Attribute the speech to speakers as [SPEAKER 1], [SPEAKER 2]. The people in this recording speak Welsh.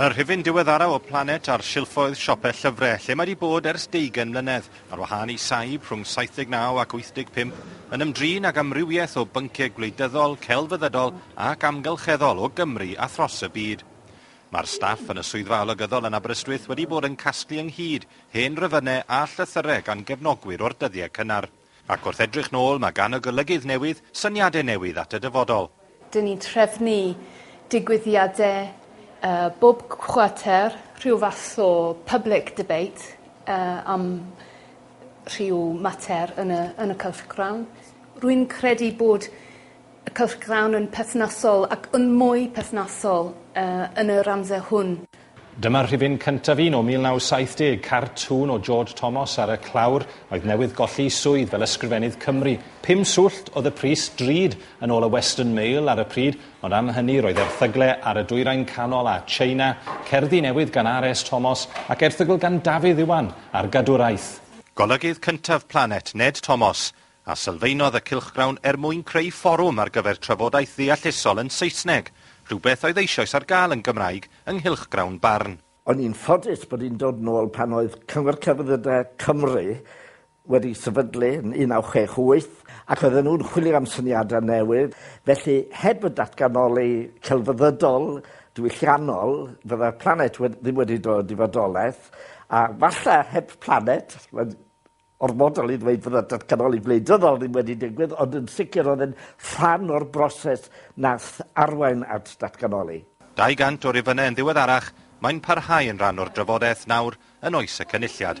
[SPEAKER 1] Y rhifyn diweddaraf o Planet ar silffoedd siope llyfrau, lle mae 'di bod ers deugain mlynedd, ar wahân i saib rhwng 79 ac 85, yn ymdrin ag amrywiaeth o bynciau gwleidyddol, celfyddydol ac amgylcheddol o Gymru a thros y byd. Mae'r staff yn y Swyddfa Olygyddol yn Aberystwyth wedi bod yn casglu ynghyd hen rifynnau a llythyrau gan gefnogwyr o'r dyddiau cynnar. Ac wrth edrych nôl, mae gan y golygydd newydd syniadau newydd at y dyfodol. Dyn ni'n trefnu
[SPEAKER 2] digwyddiadau bob cwarter, rhyw fath o public debate am rhyw mater yn y yn y cylchgrawn. Rwy'n credu bod y cylchgrawn yn perthnasol ac yn mwy perthnasol yn yr amser hwn. Dyma rhifyn
[SPEAKER 3] cyntaf un o 1970, cartŵn o George Thomas ar y clawr oedd newydd golli'i swydd fel Ysgrifennydd Cymru. Pum swllt oedd y pris, drud, yn ôl y Western Mail ar y pryd, ond am hynny roedd erthygle ar y Dwyrain Canol a China, cerddi newydd gan RS Thomas ac erthygl gan Dafydd Iwan ar gadwraeth. Golygydd cyntaf
[SPEAKER 1] Planet, Ned Thomas, a sylfaenodd y cylchgrawn er mwyn creu fforwm ar gyfer trafodaeth ddeallusol yn Saesneg, rhywbeth oedd eisoes ar gael yn Gymraeg yng nghylchgrawn Barn. O'n i'n ffodus
[SPEAKER 4] bod hi'n dod nôl pan oedd Cyngor Celfyddydau Cymru wedi sefydlu yn 1968 ac oedden nhw'n chwilio am syniadau newydd, felly heb y datganoli celfyddydol diwylliannol fydda'r planet wed- ddim wedi dod i fodolaeth, a falle heb planet, mae'n orfodol i ddweud fod y datganoli gwleidyddol ddim wedi digwydd, ond yn sicr oedd e'n rhan o'r broses nath arwain at datganoli. 200 o
[SPEAKER 1] rifynnau yn ddiweddarach, mae'n parhau yn rhan o'r drafodaeth nawr yn oes y Cynulliad.